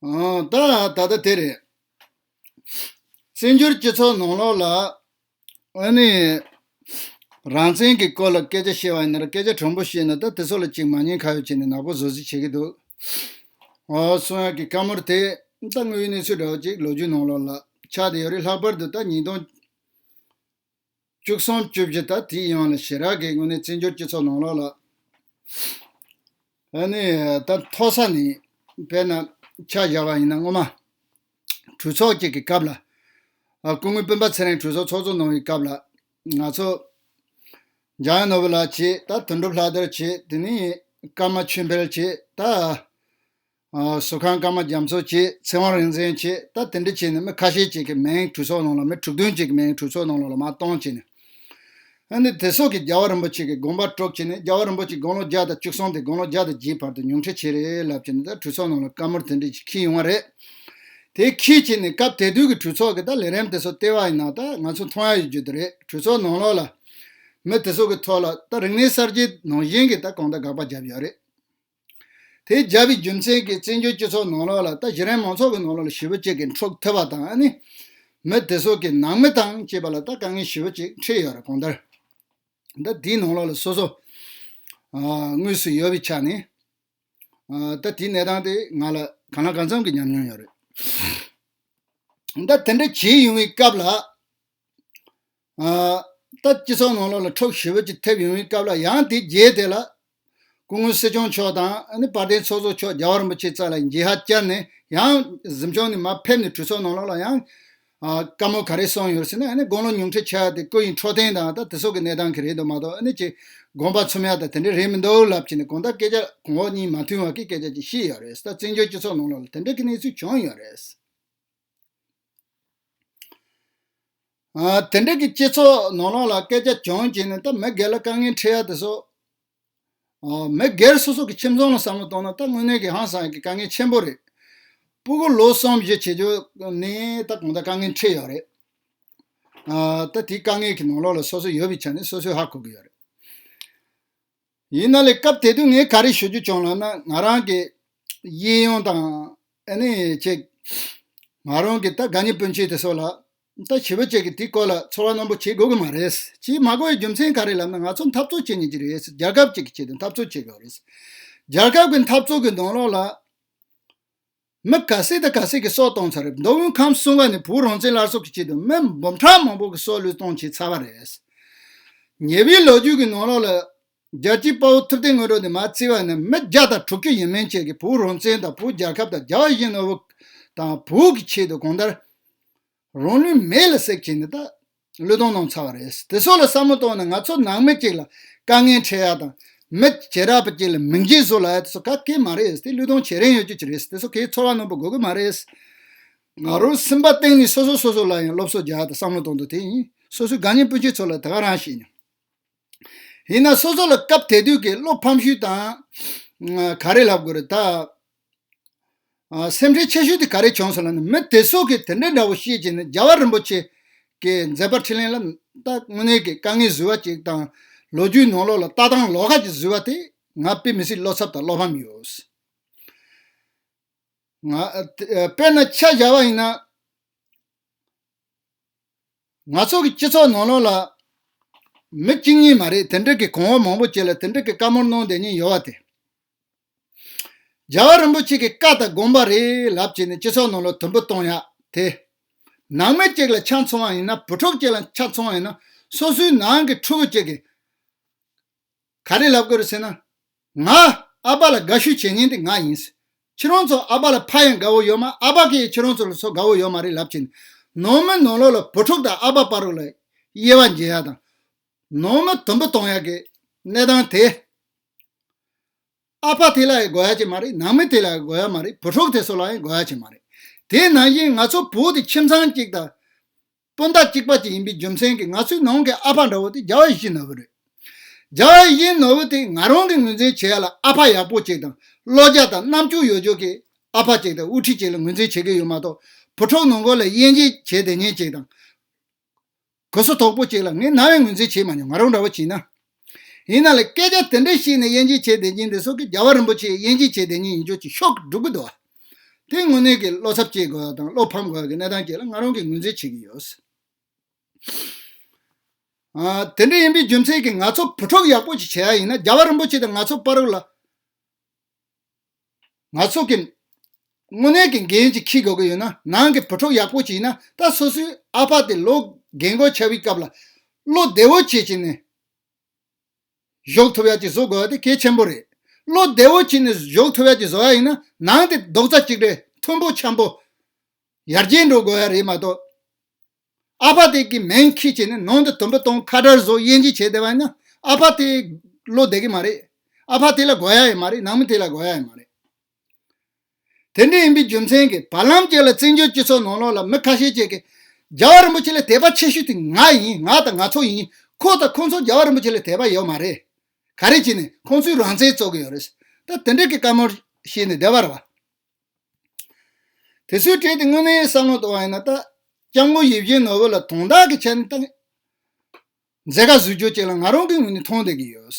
ད་ལྟ་དེ་རེད། བཙན་བྱོལ་སྤྱི་ཚོགས་ནང་ལོགས་ལ། ཨ་ནི། རང་བཙན་གྱི་སྐོར་ལ་སྐད་ཆ་བཤད་བ་ཡིན་ན་ར་སྐད་ཆ་དྲང་པོ་བཤད་ན་ད་དེ་ཚོ་ལ་ཅིག་མ་ཉེས་ཁ་ཡོད་བྱས་ནས་ནག་པོ་བཟོ་བཟི་བྱེད་ཀྱི་འདུག། ཨ་སུ་ཡང་གི་བཀའ་མོལ་དེ་ད་དངོས་ཡོད་གནས་ཚུལ་འདྲ་བོ་ཅིག་ལོ་རྒྱུས་ནང་ལོགས་ལ་ཆགས་བསྡད་ཡོད་རེད་ལྷག་པར་དུ་ད་ཉིས་སྟོང། བཅུ་གསུམ་བཅུ་བཞི་དང་དེའི་ཡང་ལ་ཞེས་རག་གི་དངོས་གནས་བཙན་བྱོལ་སྤྱི་ཚོགས་ནང་ལོགས་ལ་ཨ་ནི་ད་མཐོ་ས་ནས་དཔེར་ན་ཆ་བཞག་པ་ཡིན་ན་སྔོན་མ་གྲོས་ཚོགས་གཅིག་གི་སྐབས་ལ་སྐུ་ངོའི་སྤུན་པ་ཚེ་རིང་གྲོས་ཚོགས་ཚོགས་གཙོ་གནང་བའི་སྐབས་ལ་ང་ཚོ་འཇམ་དབྱངས་ནོར་བུ་ལགས་ཀྱིས་ད་དོན་གྲུབ་ལྷ་དར་གྱིས་དེ་ནས་ཀརྨ་ཆོས་འཕེལ་གྱིས་ད། བཟོ་ཁང་སྐར་མ་རྒྱ་མཚོ་བཅས་ཚེ་དབང་རིག་འཛིན་བཅས་ད་དེ་འདྲ་བྱས་ནས་མི་ཁ་ཤས་ཅིག་གི་མིང་གྲུ་ཚོགས་ནང་ལ་མི་དྲུག་བདུན་ཅིག་གི་མིང་གྲུ་ཚོགས་ནང་ལ་ལ་མ་གཏོང་བྱས་ནས། ཨ་ནི་དེ་སོགས་ཀྱིས་རྒྱལ་བ་རིན་པོ་ཆེ་གི་དགོངས་པ་དཀྲོགས་བྱས་ནས་རྒྱལ་བ་རིན་པོ་ཆེ་དགུང་ལོ་བརྒྱ་དང་བཅུ་སོང་སྟེ་དགུང་ལོ་བརྒྱ་དང་བརྒྱའི་བར་དུ་ཉུང་འཕྲི་བྱས་རེད་ལབ་བྱས་ནས་ད་གྲུ་ཚོགས་ནང་ལ་བཀའ་མོལ་དེ་འདྲ་ཅིག་ཁྱི་ཡོང་བ་རེད། དེ་ཁྱི་བྱས་ནས་སྐབས་དེ་དུས་ཀྱི་གྲུ་ཚོགས་ཀྱི་ད་ལས་རིམ་དེ་སོགས་ལྟེ་བ་ཡིན་ན་ད་ང་ཚོ་མཐོང་ཡ་ཡོད་རྒྱུ་དེ་རེད་གྲུ་ཚོགས་ནང་ལོགས་ལ་མི་དེ་སོགས་ཀྱི་ཐོག་ལ་ད་རིག་གནས་གསར་བརྗེ་ནང་བཞིན་གྱི་ད་གང་ད་དགག་པ་རྒྱབ་ཡོད་རེད། དེ་རྒྱལ་བའི་རྒྱུ་མཚན་གྱིས་བཙན་བྱོལ་སྤྱི་ཚོགས་ནང་ལོགས་ལ་ལྟ་གཞི་རན་མང་ཚོགས་ཀྱི་ནང་ལོགས་ལ་ཞི་བ་གཅིག་གི་འཕྲོག་ཐུབ་པ་དང་ནི། མི་དེ་ཚོ་གི་ནང་མི་དང་བཅས་པ་ལ་ལྟ་དཀའ་ངལ་ཞི་བ་གཅིག་འཕྲད་ཡོད་རེད་གང་ལྟར། ད་དེའི་ནང་ལོགས་ལ་སོ་སོ། དངོས་སུ་ཡོད་པའི་ཆ་ནས། ད་དེའི་གནས་སྟངས་དེ་ང་ལ་གང་ལ་གང་འཚམ་གྱི་ཉམས་མྱོང་ཡོད་རེད། ད་དེ་འདྲ་བྱས་ཡོང་བའི་སྐབས་ལ། ལྟ། སྤྱི་ཚོགས་ནང་ལོགས་ལ་འཕྲོག་ཞི་བོད་ཀྱི་ཐེབས་ཡོང་བའི་སྐབས་ལ་ཡང་དེ་རྗེས་དེ་ལ། སྐུ་ངོ་སྲིད་སྐྱོང་མཆོག་དང་བར་དན་ཚོགས་གཙོ་མཆོག་རྒྱ་བ་རིན་པོ་ཆེ་རྩ་ལ་འགྱེལ་ཧ་བཅར་ནས་ཡང་གཟིམ་ཆུང་ནས་མ་ཕེབས་ནས་གྲོས་ཚོགས་ནང་ལོགས་ལ་ཡང། བཀའ་མོལ་ག་རེ་གསུངས་ཡོད་ཟེར་ན་དགུང་ལོ་ཉུང་འཕྲི་ཆགས་ཡོད་དེ་སྐུ་ཡི་འཕྲོག་བརྟེན་དང་དེ་སོགས་ཀྱི་གནས་སྟངས་གི་རེད་འདུག་མ་གཏོགས་ནི་ཅི། དགོངས་པ་ཚུམ་ཡག་དང་དེ་འདྲ་རེད་མི་འདུག་ལབ་ཅིག་ནས་གང་ལྟར་སྐད་ཆ་གོང་འོག་གཉིས་མ་མཐུན་བ་ཀྱི་སྐད་ཆ་ཅིག་ཤི་ཡོད་རེད་ད་བཙན་བྱོལ་སྤྱི་ཚོགས་ནང་ལོགས་ལ་དེ་འདྲ་གི་གནས་ཚུལ་བྱུང་ཡོད་རེད། དེ་འབྲེལ་གྱི་སྤྱི་ཚོགས་ནོར་ལོག་ལ་སྐད་ཆ་བྱུང་རྗེས་ནས་ད་མི་སྒེར་ལ་དཀའ་ངལ་འཕྲད་ཡ་དེ་སོགས། མི་སྒེར་སོ་སོ་གི་ཁྱིམ་ཚང་ལ་བསམ་བློ་གཏོང་ན་ད་དངོས་གནས་ཀྱི་ཧང་སངས་ཀྱི་དཀའ་ངལ་ཆེན་པོ་རེད། སྤུ་གུ་ལོ་གསུམ་བཞི་བྱེད་རྒྱུ་ནི་ད་གང་འདྲ་དཀའ་ངལ་འཕྲད་ཡོད་རེད། ད་དེའི་དཀའ་ངལ་གྱི་ནོར་ལོག་ལ་སོ་སོ་ཡོད་པའི་ཆ་ནས་སོ་སོས་ཧ་གོ་གི་ཡོད་རེད། ཡིན་ན་ལེ་སྐབས་དེ་དུས་ངས་ག་རེ་ཞུ་རྒྱུ་བྱུང་ལབ་ན་ང་རང་གི་གཡས་གཡོན་དང་ཨ་ནེ་བཅས་ང་རང་གི་ད་དགའ་ཉེ་སྤུན་མཆེད་དེ་སོགས་ལ་ད་ཞི་བ་བཅས་ཀྱི་དེ་སྐོར་ལ་ཚོར་བ་རྣོན་པོ་བྱེད་དགོས་ཀྱི་མ་རེད་ཅེས་མ་གོ་བའི་རྒྱུ་མཚན་ག་རེ་ལབ་ན་ང་ཚོ་འཐབ་རྩོད་བྱེད་ཉེ་གི་རེད་རྒྱལ་ཁབ་ཅིག་གི་ཆེད་དུ་འཐབ་རྩོད་བྱེད་དགོས་རེད་རྒྱལ་ཁབ་ཀྱི་འཐབ་རྩོད་ཀྱི་གདོང་ལོག་ལ། མི་ག་ཟེ་དང་ག་ཟེ་གི་སྲོག་གཏོང་ཚར་རེད་མདོ་དབུས་ཁམས་སྲུང་བ་ནི་བོད་རང་བཙན་སླར་གསོ་གི་ཆེད་དུ་མི་འབུམ་ཕྲག་མང་པོ་གི་སྲོག་བློས་གཏོང་བྱས་ཚར་བ་རེད། ཉེ་བའི་ལོ་རྒྱུས་ཀྱི་ནང་རང་ལ་རྒྱལ་སྤྱིའི་དཔའ་བོ་ཐུབ་བསྟན་སྔོན་འགྲོ་ནས་མ་བརྩིས་བ་ནི་མི་བརྒྱ་དང་དྲུག་ཅུ་ཡིན་མིན་བཅས་ཀྱི་བོད་རང་བཙན་དང་བོད་རྒྱལ་ཁབ་དང་རྒྱ་བ་བཞི་ནོར་བུ་དང་བོད་ཀྱི་ཆེད་དུ་གང་ལྟར་རང་ལུས་མེ་ལ་བསྲེགས་བྱས་ནས་ད་ལོའི་སྟོང་གནང་ཚར་བ་རེད། དེ་སོགས་ལ་བསམ་བློ་གཏོང་ནས་ང་ཚོ་ནང་མི་གཅིག་ལ་དཀའ་ངལ་འཕྲད་ཡག་དང། མི་བྱེ་བྲག་པ་གཅིག་ལ་མིང་རྗེས་བཟོ་ལ་ཡག་དེ་སོགས་ག་གེ་མ་རེད། དེ་ལུས་སྟོང་བྱེད་རན་ཡོད་རྒྱུ་གཅིག་རེད། དེ་སོགས་ཁའི་ཚོར་བ་ནོར་པོ་དགོས་གི་མ་རེད། ང་རོ་སེམས་པ་གཏིང་ནས་སོ་སོ་སོ་སོ་ལ་ཡང་སློབ་གསོ་རྒྱག་དང་བསམ་བློ་གཏོང་འདོད་དེ་ཡིན། སོ་སོའི་དགའ་ཉེ་སྤུན་མཆེད་ཚོ་ལ་དེ་ག་རང་བཤད་མྱོང། ཡིན་ན་སོ་སོ་ལ་སྐབས་དེ་དུས་ཀྱི་བློ་ཕམ་ཤུལ་དང། ག་རེ་ལབ་དགོས་རེད་ད། སེམས་ཁྲལ་ཆེ་ཤོས་དེ་ག་རེ་བྱུང་སོང་ལ་ནི་མི་དེ་སོགས་ཀྱིས་དེ་འདྲའི་འདྲ་བོ་ཤེས་ཀྱིན་ནས་རྒྱལ་བ་རིན་པོ་ཆེ་གི་མཛད་པར་ཕྱི་གླིང་ལ་ལྟ་དངོས་གནས་ཀྱི་དཀའ་ངལ་བཟོས་བ་ཅིག་དང་ལོ་རྒྱུས་ནང་ལོགས་ལ་ལྟ་སྟངས་ལོགས་ཀ་ཅིག་བཟོས་བ་དེ་ང་དཔེ་མི་སྲིད་བློ་འཚབ་དང་བློ་ཕམ་ཡོད། དཔེར་ན་ཆ་བཞག་པ་ཡིན་ན། ང་ཚོ་གི་སྤྱི་ཚོགས་ནང་ལོགས་ལ་མི་གཅིག་གཉིས་མ་རེད་དེ་འདྲ་གི་གོང་འོག་མང་པོ་བྱས་ལ་དེ་འདྲ་གི་བཀའ་མོལ་གནང་བསྡད་ཉིན་ཡོད་བ་དེ། རྒྱལ་བ་རིན་པོ་ཆེ་གི་བཀའ་ལྟར་དགོངས་པ་རེད་ལབ་བྱས་ནས་སྤྱི་ཚོགས་ནང་ལོ་དུམ་བུ་གཏོང་ཡ་དེ། ནང་མི་གཅིག་ལ་ཆ་མཚོན་བ་ཡིན་ན་བུ་ཕྲུག་གཅིག་ལ་ཆ་མཚོན་བ་ཡིན་ན་སོ་སོའི་ནང་གི་ཕྲུ་གུ་གཅིག་གིས་ག་རེ་ལབ་དགོས་རེད་ཟེར་ན། ང་ཨ་ཕ་ལ་དགའ་ཤོས་བྱེད་ངེས་དེ་ང་ཡིན། ཁྱེད་རང་ཚོ་ཨ་ཕ་ལ་ཕ་ཡང་དགའ་བོ་ཡོད་མ་ཨ་ཕ་གིས་ཡང་ཁྱེད་རང་ཚོ་ལ་ཚོ་དགའ་བོ་ཡོད་མ་རེད་ལབ་བྱས་ནས་ནང་མི་ནང་ལོག་ལ་བུ་ཕྲུག་དང་ཨ་ཕ་བར་ལ་དབྱེ་བ་འབྱེད་ཡ་དང། ནང་མི་དུམ་བུ་གཏོང་ཡ་གི་གནས་སྟངས་དེ། ཨ་ཕ་དེ་ལའང་དགོས་ཡ་ཆེ་མ་རེད་ནང་མི་དེ་ལའང་དགོས་ཡ་མ་རེད་བུ་ཕྲུག་དེ་ཚོ་ལའང་དགོས་ཡ་ཆེ་མ་རེད། དེ་ནང་བཞིན་ང་ཚོ་བོད་དེ་ཁྱིམ་ཚང་གཅིག་དང། སྤུན་ཟླ་གཅིག་པ་གཅིག་ཡིན་པའི་རྒྱུ་མཚན་གྱིས་ང་ཚོའི་ནང་གི་ཨ་ཕ་འདྲ་བོ་དེ་རྒྱ་བ་གཞིས་ནོར་བུ་རེད། རྒྱ་བ་གཞིས་ནོར་བུ་དེ་ང་རང་གིས་ངོས་འཛིན་བྱེད་ཡ་ལ་ཨ་ཕ་ཡག་པོ་གཅིག་དང་བློ་རྒྱ་དང་རྣམ་དཔྱོད་ཡོད་ཅོག་གི་ཨ་ཕ་གཅིག་དང་དབུ་ཁྲིད་གཅིག་ལ་ངོས་འཛིན་བྱེད་ཀྱི་ཡོད་མ་གཏོགས་བུ་ཕྲུག་ནང་སྒོ་ལ་དབྱེ་འབྱེད་བྱེད་དེ་ཉེན་གཅིག་དང། གོས་སོ་དོག་པོ་གཅིག་ལ་ངས་ན་བའི་ངོས་འཛིན་བྱས་མ་མྱོང་ང་རང་འདྲ་བོ་བྱིན་ན། ཡིན་ན་ལ་སྐད་ཆ་དེ་འདྲ་བཤད་ནས་དབྱེ་འབྱེད་བྱས་བསྡད་ཀྱིན་འདི་སོག་གི་རྒྱལ་བ་རིན་པོ་ཆེའི་དབྱེ་འབྱེད་བྱས་བསྡད་ཉིན་ཡིན་ཆོག་ཅིག་ཤོག་སྒྲུབ་དགོས་འདུག་བ། དེ་དངོས་གནས་ཀྱི་བློ་འཚབ་སྐྱེ་དགོས་བ་དང་བློ་ཕམ་དགོས་བ་གི་གནས་སྟངས་བཅས་ལ་ང་རང་གིས་ངོས་འཛིན་བྱེད་ཀྱིན་ཡོད། དེ་འདྲ་ཡིན་པའི་རྒྱུ་མཚན་གྱིས་ང་ཚོ་བུ་ཕྲུག་ཡག་པོ་ཞིག་བྱེད་ཡ་ཡིན་ན་རྒྱལ་བ་རིན་པོ་ཆེ་དང་ང་ཚོ་པ་རུ་ལ། ང་ཚོ་གི་དངོས་གནས་ཀྱི་འགན་ཅིག་ཁྱི་དགོས་ཀྱི་ཡོད་ན་ནང་གི་བུ་ཕྲུག་ཡག་པོ་ཅིག་ཡིན་ན་ད་སོ་སོའི་ཨ་ཕ་དེ་ལོ་རྒན་གོ་ཆ་བའི་སྐབས་ལ་བློ་བདེ་བོ་བྱེད་བྱེད་ནས་གཞོགས་ཐུབ་ཡག་ཅིག་བཟོ་དགོས་བ་དེ་གལ་ཆེན་པོ་རེད་བློ་བདེ་བོ་བྱེད་ནས་གཞོགས་ཐུབ་ཡག་ཅིག་བཟོ་ཡག་ཡིན་ན་ནང་དེ་རྡོག་རྩ་གཅིག་རེད་མཐོན་པོ་འཁྱམ་པོ་ཡར་རྒྱས་འགྲོ་དགོས་བ་རེད་མ་གཏོགས། ཨ་ཕ་དེ་གི་མིང་ཁྱི་བྱས་ནས་ནང་དུ་དུམ་བུ་སྟོང་ཁ་དར་བཟོ་དབྱེ་འབྱེད་བྱས་བསྡད་པ་ཡིན་ན་ཨ་ཕ་དེ་བློ་བདེ་གི་མ་རེད། ཨ་ཕ་དེ་ལ་དགོས་ཡ་ཡི་མ་རེད་ནང་མི་དེ་ལ་དགོས་ཡ་ཡི་མ་རེད། དེ་འདྲ་ཡིན་པའི་རྒྱུ་མཚན་གྱིས་བར་ལམ་བཅས་ལ་བཙན་བྱོལ་སྤྱི་ཚོགས་ནང་ལོགས་ལ་མི་ཁ་ཤས་བཅས་ཀྱིས་རྒྱལ་བ་རིན་པོ་ཆེ་ལ་དད་པ་ཆེ་ཤོས་དེ་ང་ཡིན་ང་དང་ང་ཚོ་ཡིན་ཁོ་དང་ཁོ་ཚོ་རྒྱལ་བ་རིན་པོ་ཆེ་ལ་དད་པ་ཡོད་མ་རེད། ག་རེ་བྱས་ནས་ཁོང་ཚོའི་རང་བཙན་རྩོད་གི་ཡོད་རེད། ད་དེ་འདྲ་གི་བཀའ་མོལ་བྱས་ནས་བསྡད་པ་རེད་བ། དེ་སུའི་གྲས་དེ་དངོས་གནས་བསམ་བློ་གཏོང་བ་ཡིན་ན་ད་སྐྱབས་མགོན་ཡིད་བཞིན་ནོར་བུ་ལ་དོན་དག་གི་ཆ་ནས་ད་མཛད་དགའ་བཟོས་རྒྱུ་གཅིག་ལ་ང་རང་གི་ངོས་ནས་མཐོང་བསྡད་ཀྱི་ཡོད།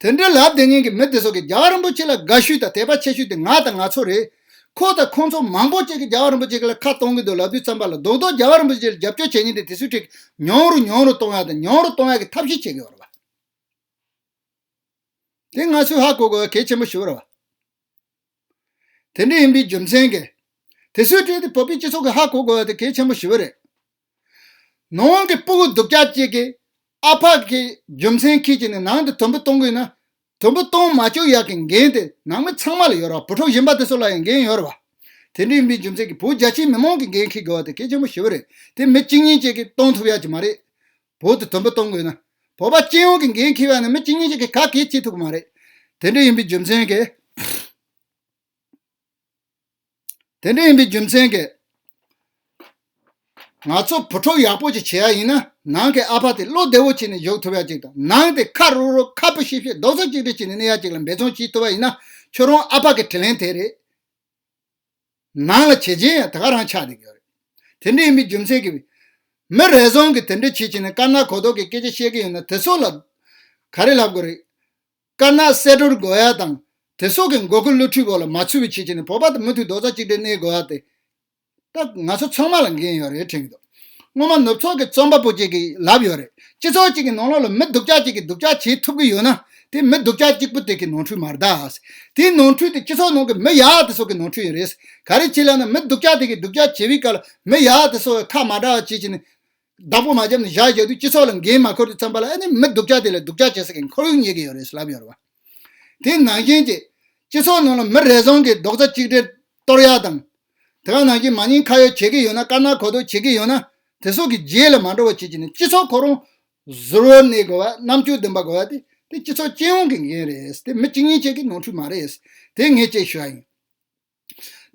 དེ་འདྲའི་ལབ་བདེ་ཉན་གྱི་མི་དེ་ཚོ་གིས་རྒྱ་བ་རིན་པོ་ཆེ་ལ་དགའ་ཤུས་དང་དད་པ་ཆེ་ཤུས་དེ་ང་དང་ང་ཚོ་རེད། ཁོ་དང་ཁོང་ཚོ་མང་པོ་ཅིག་གིས་རྒྱ་བ་རིན་པོ་ཆེ་ལ་ཁ་གཏོང་གི་འདུག་ལབ་དུས་ཙམ་པ་ལ་རྡོག་རྡོག་རྒྱ་བ་རིན་པོ་ཆེ་ལ་རྒྱབ་སྐྱོར་བྱེད་ཉིན་དེ་དེ་སུའི་གྲས་ཀྱིས་མྱོང་རུ་མྱོང་རུ་གཏོང་ཡ་དང་མྱོང་རུ་གཏོང་ཡ་གི་ཐབས་ཤེས་བྱེད་ཀྱི་ཡོད་རེད། དེ་སྔ་སུ་ཧ་གོ་གོ་གལ་ཆེན་པོ་ཞུ་རུ། དེ་འདྲ་ཡིན་པའི་རྒྱུ་མཚན་གྱིས། དེ་སུས་སྤྲད་དེ་བོད་པའི་སྤྱི་ཚོགས་ཀྱི་ཧ་གོ་གོ་དེ་གལ་ཆེན་པོ་ཞུ་གི་རེད། ནང་གི་སྤུ་གུ་སྡུག་ཅག་ཅིག་གིས་ཨ་ཕ་གི་རྒྱུ་མཚན་ཁས་ཀྱིས་ནས་ནང་དུ་དུམ་བུ་གཏོང་དགོས་ན། དུམ་བུ་གཏོང་མ་བཅུག་ཡག་གི་འགན་དེ་ནང་མི་ཚང་མ་ལ་ཡོད་རོགས་བུ་ཕྲུག་གཞན་པ་དེ་སུ་ལ་ཡང་འགན་ཡོད་རོགས། དེ་འདྲ་ཡིན་པའི་རྒྱུ་མཚན་གྱིས་བོད་རྒྱ་ཆེའི་མི་མང་གི་འགན་ཁས་དགོས་བ་དེ་གལ་ཆེན་པོ་ཞུ་གི་རེད་དེ་མི་གཅིག་གཉིས་ཅིག་གིས་གཏོང་ཐུབ་ཡག་གི་མ་རེད། བོད་དུ་དོན་པོ་གཏོང་དགོས་ན། བོད་པ་སྤྱི་ཡོངས་ཀྱི་འགན་འཁྱེར་བ་ནི་མི་གཅིག་གཉིས་ཤིག་གིས་ག་གེ་བྱེད་ཐུབ་ཀྱི་མ་རེད། དེ་འདྲ་ཡིན་པའི་རྒྱུ་མཚན་གྱིས། དེ་འདྲ་ཡིན་པའི་རྒྱུ་མཚན་གྱིས། ང་ཚོ་བུ་ཕྲུག་ཡག་པོ་ཅིག་བྱེད་ཡག་ཡིན་ན་ནང་གི་ཨ་ཕ་དེ་བློ་བདེ་བོ་བྱས་ནས་བཞུགས་ཐུབ་ཡག་ཅིག་དང་ནང་དེ་ཁ་རུག་རུག་ཁ་སྤུ་ཤེབ་ཤེབ་རྡོག་རྩ་གཅིག་སྒྲིལ་བྱས་ནས་གནས་ཡག་ཅིག་ལ་འབད་བརྩོན་བྱེད་ཐུབ་པ་ཡིན་ན་ཁྱོད་རང་ཨ་ཕ་གི་དྲིན་ལན་དེ་རེད། ནང་ལ་བྱེད་བྱེད་ཡང་དེ་ག་རང་ཆགས་འདུག་ཡོད་རེད། དེ་འདྲའི་མི་རྒྱུ་མཚན་གྱིས། མི་རེ་ཟུང་གིས་དེ་འདྲ་བྱེད་བྱེད་ནས་དཀར་ནག་གོ་ལྡོག་གི་སྐད་ཆ་བཤད་ཀྱི་ཡོད་ན་དེ་སོགས་ལ། ག་རེ་ལབ་དགོས་རེད། དཀར་ནག་བསད་གྲོལ་དགོས་ཡ་དང། དེ་སོགས་ཀྱི་མགོ་སྐུ་བློ་འཁྲུལ་བོ་ལ་མ་ཚུད་པའི་བྱེད་བྱེད་ནས་བོད་པ་དེ་མུ་མཐུད་རྡོག་རྩ་གཅིག་སྒྲིལ་གནས་དགོས་ཡ་དེ། ད་ང་ཚོ་ཚང་མ་ལ་འགན་ཡོད་རེད་དྲན་གྱི་འདུག། སྔོན་མ་ནུབ་ཕྱོགས་ཀྱི་རྩོམ་པ་པོ་གཅིག་གིས་ལབ་ཡོད་རེད་སྤྱི་ཚོགས་གཅིག་གི་ནང་ལོགས་ལ་མི་སྡུག་ཅག་གཅིག་གིས་སྡུག་ཅག་བྱེད་ཐུབ་ཀྱི་ཡོད་ན་དེ་མི་སྡུག་ཅག་གཅིག་པོ་དེ་གི་ནོར་འཁྲུལ་མ་རེད། དེའི་ནོར་འཁྲུལ་དེ་སྤྱི་ཚོགས་ནང་གི་མི་ཡག་དེ་ཚོ་གི་ནོར་འཁྲུལ་ཡིན་རེད། ག་རེ་བྱེད་ལབ་ན་མི་སྡུག་ཅག་དེ་གིས་སྡུག་ཅག་བྱེད་པའི་སྐབས་ལ་མི་ཡག་དེ་ཚོ་ཁ་མ་གྲགས་བྱེད་བྱེད་ནས། བདག་པོ་མ་བརྒྱབ་ནས་བཞག་བཞག་དུས་སྤྱི་ཚོགས་ལ་འགན་མ་འཁུར་ཏེ་བརྩམས་པ་ལ་ཨ་ནི་མི་སྡུག་ཅག་དེ་ལ་སྡུག་ཅག་བྱེད་ས་གི་འཁོར་ཡུག་ཉེས་ཀྱི་ཡོད་རེད་ལབ་ཡོད་རེད་བ། དེ་ནང་བཞིན་གྱི། སྤྱི་ཚོགས་ནང་ལ་མི་རེ་ཟུང་གིས་རྡོག་རྩ་གཅིག་སྒྲིལ་གཏོར་ཡག་དང། དེ་ག་ནང་གི་མ་ཉེས་ཁ་ཡོག་བྱེད་ཀྱི་ཡོད་ན་དཀར་ནག་གོ་ལྡོག་བྱེད་ཀྱི་ཡོད་ན་དེ་སོགས་ཀྱི་རྗེས་ལ་མ་འགྲོ་བ་བྱེད་ཀྱི་ནི་སྤྱི་ཚོགས་ཁོ་རང་གཟུར་བོར་གནས་དགོས་པ་རྣམ་དཔྱོད་ལྡན་པ་དགོས་པ་དེ་དེ་སྤྱི་ཚོགས་སྤྱི་ཡོངས་ཀྱི་འགན་རེད་དེ་མི་གཅིག་གཉིས་བཅས་ཀྱི་ནོར་འཁྲུལ་མ་རེད་དེ་ངས་བཅས་ཞུ་བ་ཡིན།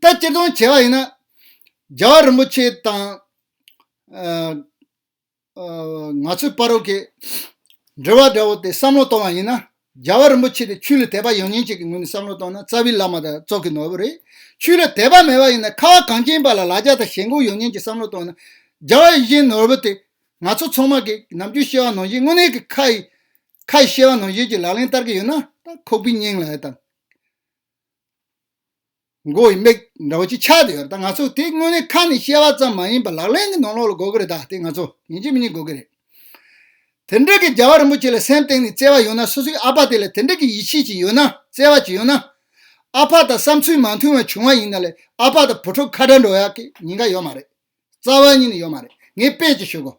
ད་སྤྱིར་བཏང་བྱས་པ་ཡིན་ན། རྒྱལ་བ་རིན་པོ་ཆེ་དང། ང་ཚོས་པར་རོ་ཀའི་འགྲེལ་བ་འདྲ་བོ་དེ་བསམ་བློ་གཏོང་བ་ཡིན་ན། རྒྱལ་བ་རིན་པོ་ཆེ་དེ་ཆོས་ལ་དད་པ་ཡོང་ཉེན་ཅིག་གི་ངོས་ནས་བསམ་བློ་གཏོང་ན་རྩ་བའི་བླ་མ་དང་ཙོག་གི་ནོར་བུ་རེད། ཆོས་ལ་དད་པ་མེད་པ་ཡིན་ན་ཁ་བ་གངས་ཅན་པ་ལ་ལ་རྒྱ་དང་ཞེན་ཁོག་ཡོང་ཉེན་ཅིག་བསམ་བློ་གཏོང་ན། རྒྱལ་བ་ཡིད་བཞིན་ནོར་བུ་དེ། ང་ཚོ་ཚང་མ་གིས་ནམ་རྒྱུན་བཤད་བ་ནང་བཞིན་དངོས་གནས་ཀྱི་ཁ་ཡི། ཁ་ཡི་བཤད་བ་ནང་བཞིན་གྱི་ལག་ལེན་བསྟར་གྱི་ཡོད་ན། ད་ཁོག་པའི་སྙིང་ལ་ཨེ་བཏང། མགོ་ཡི་མིག་འདྲ་བོ་ཅིག་ཆགས་ཏེ་ཡོད་རེད་ད་ང་ཚོ་དེ་དངོས་གནས་ཁ་ནས་བཤད་བ་ཙམ་མ་ཡིན་པར་ལག་ལེན་གྱི་ནང་ལོག་ལ་དགོས་ཀྱི་རེད་ད་དེ་ང་ཚོ་ཉིན་གཅིག་མི་གཉིས་དགོས་ཀྱི་རེད། དེ་འདྲ་གི་རྒྱལ་བ་རིན་པོ་ཆེ་ལ་སེམས་སྟེང་ནས་བརྩེ་བ་ཡོད་ན་སོ་སོའི་ཨ་ཕ་དེ་ལ་དེ་འདྲ་གི་ཡིད་ཆེས་ཅིག་ཡོད་ན་བརྩེ་བ་ཅིག་ཡོད་ན། ཨ་ཕ་དང་བསམ་ཚུལ་མ་མཐུན་བ་བྱུང་བ་ཡིན་ན་ལས་ཨ་ཕ་དང་བུ་ཕྲུག་ཁ་བྲལ་འགྲོ་ཡག་གི་ཉེན་ཁ་ཡོད་མ་རེད། རྩ་བ་གཉིས་ནས་ཡོད་མ་རེད་ངས་དཔེ་ཅིག་ཞུ་གོ།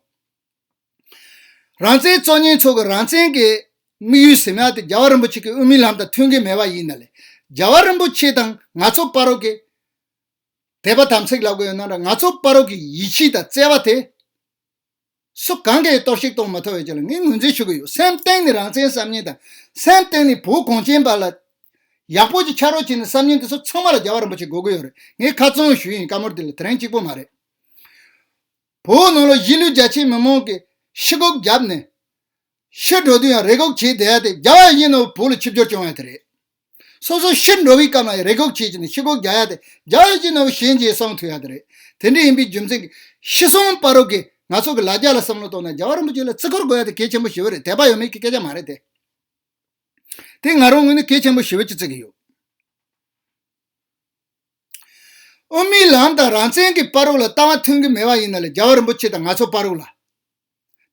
རང་བཙན་གཙོ་གཉེར་ཚོགས་ཀྱི་རང་བཙན་གྱི་དམིགས་ཡུལ་ཟེར་ན་དེ་རྒྱལ་བ་རིན་པོ་ཆེ་གི་དབུ་མའི་ལམ་དང་མཐུན་གྱི་མེད་པ་ཡིན་ན་ལས་རྒྱལ་བ་རིན་པོ་ཆེ་དང་ང་ཚོ་དཔའ་རོགས་ཀྱི་དད་པ་དམ་ཚིག་ལབ་གི་ཡོད་ན་ང་ཚོ་དཔའ་རོགས་ཀྱི་ཡིད་ཆེས་དང་བརྩེ་བ་དེ་སུ་གང་གིས་གཏོར་བཤིག་གཏོང་མ་ཐུབ་ཡོད་ཅེས་ལ་ངས་ངོས་འཛིན་ཞུ་གི་ཡོད་སེམས་སྟེང་ནས་རང་བཙན་བསམ་ཉིན་དང་སེམས་སྟེང་ནས་བོད་གངས་ཅན་པ་ལ་ཡག་པོ་ཅིག་ཆགས་རོགས་བྱེད་ནི་བསམ་ཉིན་དེ་ཚོ་ཚང་མ་ལ་རྒྱལ་བ་རིན་པོ་ཆེ་དགོས་ཀྱི་ཡོད་རེད་ངས་ཁ་བཙུམ་ཞུས་ཡིན་བཀའ་མོལ་དེ་ལ་དེ་རིང་གཅིག་པོ་མ་རེད། བོད་ནང་ལ་གཞིས་ལུས་རྒྱ་ཆེའི་མི་མང་གིས་ཕྱི་སྒོ་བརྒྱབ་ནས་ཕྱིར་འགྲོ་དུས་ཡང་རེ་སྒུག་བྱས་བསྡད་དེ་རྒྱ་ཡ་ཡིན་ནའོ་བོད་ལ་ཆིབས་སྒྱུར་བྱུང་བ་ཡང་དེ་རེད། སོ་སོ་ཕྱིར་འགྲོ་བའི་སྐབས་ལ་ཡང་རེ་སྒུག་བྱས་བྱས་ནས་ཕྱི་སྒོ་བརྒྱག་ཡ་དེ་རྒྱ་ཡ་ཡིན་ནའོ་གཞན་གྱིས་གསང་ཐུབ་ཡ་དེ་རེད། དེ་འདྲ་ཡིན་པའི་རྒྱུ་མཚན་གྱིས་ཤི་གསོན་དཔའ་རོགས་ཀྱིས་ང་ཚོ་གི་ལ་རྒྱ་ལ་བསམ་བློ་གཏོང་ན་རྒྱ་བ་རིན་པོ་ཆེ་ལ་བརྩི་བཀུར་དགོས་ཡ་དེ་གལ་ཆེན་པོ་ཞི་བོ་རེད་དད་པ་ཡོད་མེད་ཀྱི་སྐད་ཆ་མ་རེད་དེ། དེ་ང་རང་ངོས་ནས་གལ་ཆེན་པོ་ཞི་བོ་ཅིག་བརྩི་གི་ཡོད། དབུ་མའི་ལམ་དང་རང་བཙན་གྱི་དཔའ་རོགས་ལ་ལྟ་བ་མཐུན་གྱི་མེད་པ་ཡིན་ན་ལ་རྒྱ་བ་རིན་པོ་ཆེ་དང་ང་ཚོ་དཔའ་རོགས་ལ།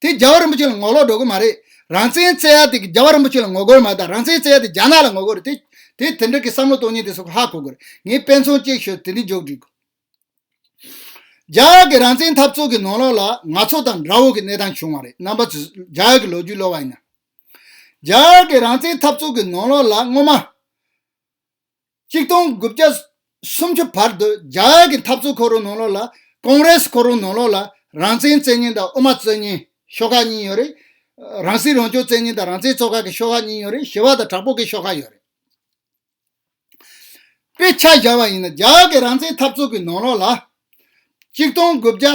དེ་རྒྱ་བ་རིན་པོ་ཆེ་ལ་ངོ་ལོག་འགྲོ་གི་མ་རེད་རང་བཙན་བརྩད་ཡ་དེ་རྒྱ་བ་རིན་པོ་ཆེ་ལ་ངོ་རྒོལ་མ་དང་རང་བཙན་བརྩད་ཡ་དེ་རྒྱ་ནག་ལ་ངོ་རྒོལ་རེད་དེ་དེ་འདྲ་གི་བསམ་བློ་གཏོང་ཉེན་དེ་སོགས་ཧ་གོ་དགོས་རེད་ངས་དཔེ་མཚོན་གཅིག་ཤོད་དེ་འདི་འཇོག་འགྲིག་རྒྱ་ཡག་གི་རང་བཙན་འཐབ་རྩོད་གི་ནོར་ལོག་ལ་ང་ཚོ་དང་དགྲ་བོ་གི་གནས་སྟངས་བྱུང་བ་རེད་རྣམ་པ་ཚོས་རྒྱ་ཡག་གི་ལོ་རྒྱུས་ཀློག་བ་ཡིན་ན་རྒྱ་ཡག་གི་རང་བཙན་འཐབ་རྩོད་གི་ནོར་ལོག་ལ་སྔོན་མ། གཅིག་སྟོང་དགུ་བརྒྱ་སུམ་ཅུ་བར་དུ་རྒྱ་གར་གྱི་འཐབ་རྩོད་ཁོར་ཡུག་ནང་ལོགས་ལ་ཀོང་རེས་ཁོར་ཡུག་ནང་ལོགས་ལ་རང་བཙན་བཙན་གཉིས་དང་དབུ་མ་བཙན་གཉིས་ཤོག་ཁག་གཉིས་ཡོད་རེད། རང་སྲིད་རང་སྐྱོང་བཙན་གཉིས་དང་རང་བཙན་གཙོ་ཁག་གི་ཤོག་ཁག་གཉིས་ཡོད་རེད་ཞི་བ་དང་དྲག་པོ་གི་ཤོག་ཁག་ཡོད་རེད། དཔེ་ཆ་བཞག་པ་ཡིན་ན་རྒྱ་གར་གྱི་རང་བཙན་འཐབ་རྩོད་ཀྱི་ནང་ལོགས་ལ་གཅིག་སྟོང་དགུ་བརྒྱ།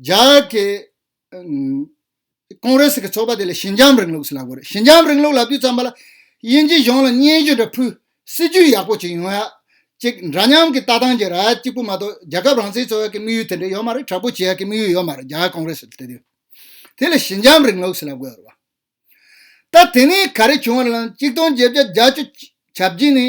རྒྱ་གར་གྱི་ཀོང་རེ་སི་གི་ཚོགས་པ་དེ་ལ་ཞི་འཇམ་རིང་ལུགས་སུ་ལབ་དགོས་རེད་ཞི་འཇམ་རིང་ལུགས་ལབ་དུས་ཙམ་པ་ལ་དབྱིན་ཇི་གཞུང་ལ་སྙན་ཞུ་འདྲ་ཕུལ་སྲིད་ཇུས་ཡག་པོ་བྱེད་ཡོང་ཡ་གཅིག་འདྲ་མཉམ་གྱི་ལྟ་སྟངས་ཀྱི་ར་གཅིག་པུ་མ་གཏོགས་རྒྱལ་ཁབ་རང་བཙན་རྩོད་ཡག་གི་དམིགས་ཡུལ་དེ་འདྲ་ཡོད་མ་རེད་དྲག་པོ་བྱེད་ཡག་གི་དམིགས་ཡུལ་ཡོད་མ་རེད་རྒྱ་གར་ཀོང་རེ་སི་དེ་དེ་ལ་ཞི་འཇམ་རིང་ལུགས་སུ་ལབ་དགོས་རེད་བ། ད་དེ་ནས་ག་རེ་བྱུང་བ་རེད་ལམ་གཅིག་སྟོང་བརྒྱད་བརྒྱ་བརྒྱ་བཅུ་བྱ་བགྱིས་ནས།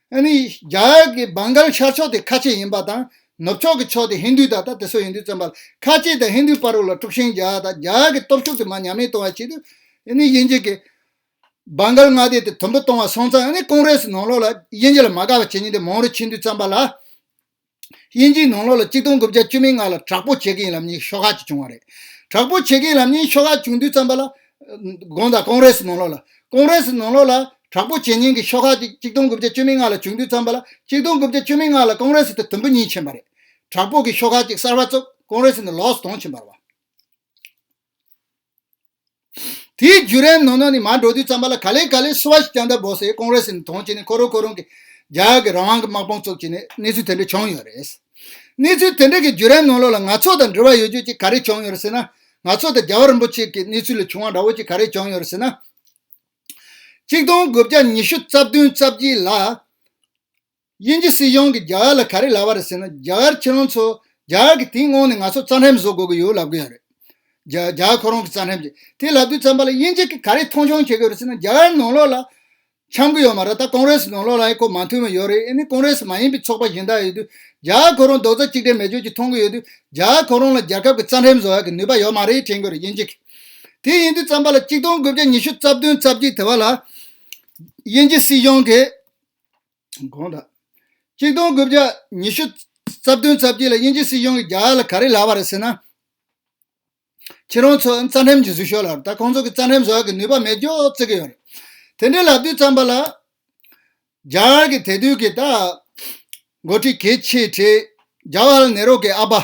ཨ་ནི་རྒྱ་གར་གྱི་བང་གཱལ་ཤར་ཕྱོགས་དེ་ཁ་ཆེ་ཡིན་པ་དང་ནུབ་ཕྱོགས་ཀྱི་ཕྱོགས་དེ་ཧིན་དུའི་དག་ད་དེ་སོགས་ཡིན་དུས་བཙན་པ་ལ་ཁ་ཆེ་དང་ཧིན་དུའི་དཔའ་རོ་ལ་དཀྲུགས་ཤིང་རྒྱག་དང་རྒྱ་གར་གྱི་སྟོབས་ཤུགས་དེ་མ་ཉམས་མེད་གཏོང་བ་བྱེད་དུས་ཨ་ནི་དབྱིན་ཇི་གིས་བང་གཱལ་མངའ་སྡེ་དེ་དུམ་བུ་སྟོང་བ་སོང་ཙང་ཨ་ནི་ཀོང་རེ་སི་ནང་ལོགས་ལ་དབྱིན་ཇི་ལ་མ་དགའ་བ་བྱེད་ཉིན་དེ་མང་རུ་ཕྱིན་དུས་བཙན་པ་ལ། དབྱིན་ཇིའི་ནང་ལོ་ལ་གཅིག་སྟོང་དགུ་བརྒྱ་བཅུ་མིག་ལྔ་ལ་དྲག་པོ་བྱེད་མཁན་ལམ་རྙིང་ཤོག་ཁག་ཅིག་བྱུང་བ་རེད། དྲག་པོ་བྱེད་མཁན་ལམ་རྙིང་ཤོག་ཁག་བྱུང་དུས་བརྩམས་པ་ལ། དགོངས་དག་ཀོང་རེ་སི་ནང་ལོ་ལ། ཀོང་རེ་སི་ནང་ལོ་ལ། དྲག་པོ་བྱེད་མཁན་གྱི་ཤོག་ཁག་ཅིག་གཅིག་སྟོང་དགུ་བརྒྱ་བཅུ་མིག་ལྔ་ལ་བྱུང་དུས་བརྩམས་པ་ལ་གཅིག་སྟོང་དགུ་བརྒྱ་བཅུ་མིག་ལྔ་ལ་ཀོང་རེ་སི་དེ་དུམ་བུ་གཉིས་ཕྱིན་པ་རེད། དྲག་པོ་གྱི་ཤོག་ཁག་ཅིག་གསར་བ་བཙུགས་ཀོང་རེ་སི་ནི་ལོགས་སུ་དོང་ཕྱིན་པར་བ། དེའི་བརྒྱུད་རིམ་ནང་ནས་ནི་མར་འགྲོ་དུས་ཙམ་པ་ལ་ག་ལེ་ག་ལེ་སུ་བ་ཞིག་ཀྱང་ད་བོ་སའི་ཀོང་རེ་སི་ནས་དོན་གྱིས་ནི་ཁོ་རང་ཁོ་རང་གི་རྒྱལ་ཁབ་ཀྱི་རང་དབང་གི་དམག་དཔུང་བཙུགས་ཀྱིས་ནི་གནས་ཚུལ་དེ་འདྲ་བྱུང་ཡོད་རེད། གནས་ཚུལ་དེ་འདྲ་གི་བརྒྱུད་རིམ་ནང་ལོགས་ལ་ང་ཚོ་དང་འབྲེལ་བ་ཡོད་རྒྱུ་གཅིག་ག་རེ་བྱུང་ཡོད་ཟེར་ན། ང་ཚོ་དང་རྒྱལ་བ་རིན་པོ་ཆེ་གི་གནས་ཚུལ་ལས་བྱུང་བ་འདྲ་བོ་གཅིག་ག་རེ་བྱུང་ཡོད་ཟེར་ན། གཅིག་སྟོང་དགུ་བརྒྱ་ཉི་ཤུ་རྩ་བདུན་རྩ་བཞི་ལ། དབྱིན་ཇི་སྲིད་གཞུང་གིས་རྒྱ་གར་ལ་ག་རེ་ལབ་པ་རེད་ཟེར་ན་རྒྱ་གར་ཁྱི་རོང་ཚོ་རྒྱ་གར་གྱི་དེའི་སྔོན་ནས་ང་ཚོར་རྩ་ཁྲེམ་བཟོ་དགོས་ཀྱི་ཡོད་ལབ་གི་ཡོད་རེད། རྒྱ་གར་ཁོ་རང་གི་རྩ་ཁྲེམ་གྱི་དེ་ལབ་དུས་བརྩམས་པ་ལ་དབྱིན་ཇི་གིས་ག་རེ་མཐོང་ཆུང་བྱེད་གི་ཡོད་རེད་ཟེར་ན་རྒྱ་གར་ནང་ལོགས་ལ་འཁྱམ་གི་ཡོད་མ་རེད་ད་ཀོང་རེ་སི་ནང་ལོགས་ལའི་ཁོ་མ་མཐུན་མ་ཡོད་རེད་ཨེ་ནི་ཀོང་རེ་སི་མ་ཡིན་པའི་ཚོགས་པ་གཞན་དག་ཡོད་དུས་རྒྱ་གར་ཁོ་རང་རྡོག་རྩ་གཅིག་སྒྲིལ་མེད་སྦྱོར་གྱི་མཐོང་གི་ཡོད་དུས་རྒྱ་གར་ཁོ་རང་ལ་རྒྱལ་ཁབ་ཀྱི་རྩ་ཁྲེམ་བཟོ་ཡག་གི་ནུས་པ་ཡོད་མ་རེད་དྲན་གི་རེད་དབྱིན་ཇི་གིས་དེ་ཡིན་དུས་བརྩམས་པ་ལ་གཅིག་སྟོང་དགུ་བརྒྱ་ཉི་ཤུ་རྩ་བདུན་རྩ་བརྒྱད་དེ་བ་ལ་དབྱིན་ཇི་སྲིད་གཞུང་གིས། དགོངས་དག། གཅིག་སྟོང་དགུ་བརྒྱ་ཉི་ཤུ་རྩ་བདུན་རྩ་བརྒྱད་ལ་དབྱིན་ཇི་སྲིད་གཞུང་གི་རྒྱ་ལ་ག་རེ་ལབ་པ་རེད་ཟེར་ན། ཁྱེད་རང་ཚོ་རྩ་འགྲེམས་ཀྱི་ཟུར་ཤོག་ལ་ད་ཁོང་ཚོ་གི་རྩ་འགྲེམས་བཟོ་གི་ནུས་པ་མེད་འགྱོ་རྩི་གི་ཡོད་རེད། དེ་འདྲའི་ལབ་དུས་རྩམ་པ་ལ། རྒྱ་གར་གི་དད་དུས་ཀྱི་ད། འགོ་ཁྲིད་གལ་ཆེ་གྲས་རྒྱ་བྷ་ལ་ནེ་རོ་གི་ཨ་པ།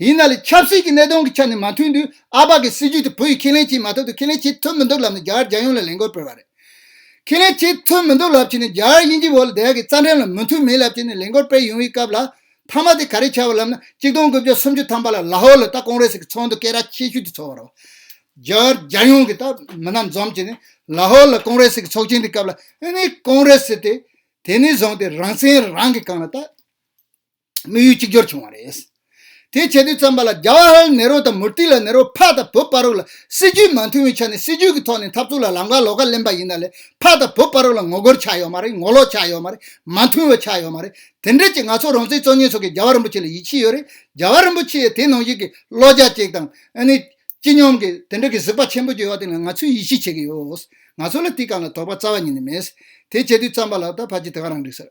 ཡིན་ན་ལས་ཆབ་སྲིད་ཀྱི་གནད་དོན་གྱི་ཆ་ནས་མ་མཐུན་དུས་ཨ་ཕ་གི་སྲིད་ཇུས་དེ་བུ་ཡིས་ཁས་ལེན་བྱེད་མ་ཐུབ་དང་ཁས་ལེན་བྱེད་ཐུབ་མི་འདུག་ལབ་ནས་རྒྱ་གར་རྒྱལ་ཡོངས་ལ་ལས་འགུལ་སྤེལ་བ་རེད། ཁས་ལེན་བྱེད་ཐུབ་མི་འདུག་ལབ་བྱས་ནས་རྒྱ་གར་དབྱིན་ཇི་བོད་ལ་དལ་གྱི་རྩ་འགྲེམས་ལ་མི་མཐུན་མིན་ལབ་བྱས་ནས་ལས་འགུལ་སྤེལ་ཡོང་བའི་སྐབས་ལ། མཐའ་མ་དེ་ག་རེ་བྱ་བ་ལབ་ན་གཅིག་སྟོང་དགུ་བརྒྱ་སུམ་ཅུ་ཐམ་པ་ལ་ལ་ཧོར་ལ་ད་ཀོང་རེ་སི་གི་ཚོགས་འདུ་སྐད་ར་ཆེ་ཤོས་དེ་ཚོགས་བར་བ། རྒྱ་གར་རྒྱལ་ཡོངས་ཀྱི་ད་མི་རྣམས་འཛོམས་བྱས་ནས་ལ་ཧོར་ལ་ཀོང་རེ་སི་གི་ཚོགས་ཆེན་དེ་སྐབས་ལ་ཨེ་ནས་ཀོང་རེ་སི་དེ་དེ་ནས་བཟུང་སྟེ་རང་བཙན་རང་གིས་བསྐང་ལ་ད། དམིགས་ཡུལ་གཅིག་གྱུར་བྱུང་བ་རེད། དེ་བྱེད་དུས་བརྩམས་པ་ལ་རྒྱ་བྷ་ཧལ་ནེ་རོ་དང་མུར་ཏི་ལ་ནེ་རོ་ཕག་དང་བུ་ཕ་རོག་ལ་སྲིད་ཇུས་མ་མཐུན་བའི་ཆ་ནས་སྲིད་ཇུས་ཀྱི་ཐོག་ནས་འཐབ་རྩོད་ལ་ལམ་ཁ་ལོག་ཁ་ལེན་པ་ཡིན་ད་ལས་ཕག་དང་བུ་ཕ་རོག་ལ་ངོ་རྒོལ་ཆགས་ཡོད་མ་རེད་ངོ་ལོག་ཆགས་ཡོད་མ་རེད་མ་མཐུན་བ་ཆགས་ཡོད་མ་རེད་དེ་འདྲ་ཅིག་ང་ཚོ་རང་བཙན་གཙོ་གཉེར་ཚོགས་ཀྱིས་རྒྱ་བྷ་རིན་པོ་ཆེ་ལ་ཡིད་ཆེས་ཡོད་རེད་རྒྱ་བྷ་རིན་པོ་ཆེ་ཡི་དེ་ནང་བཞིན་གྱི་བློ་རྒྱ་ཅིག་དང་ཨ་ནི་སྤྱི་སྙོམས་ཀྱི་དེ་འདྲ་གི་གཟིགས་པ་ཆེན་པོ་ཅིག་ཡོད་དེ་ལ་ང་ཚོས་ཡིད་ཆེས་བྱེད་ཀྱི་ཡོད་ང་ཚོ་ལ་དེའི་སྐབས་ལ་དོགས་པ་རྩ་བ་ཉིད་ནས་མེད། དེ་བྱེད་དུས་བརྩམས་པ་ལ་ད་བར་གྱི་དེ་ག་རང་འགྲིག་ཟེར།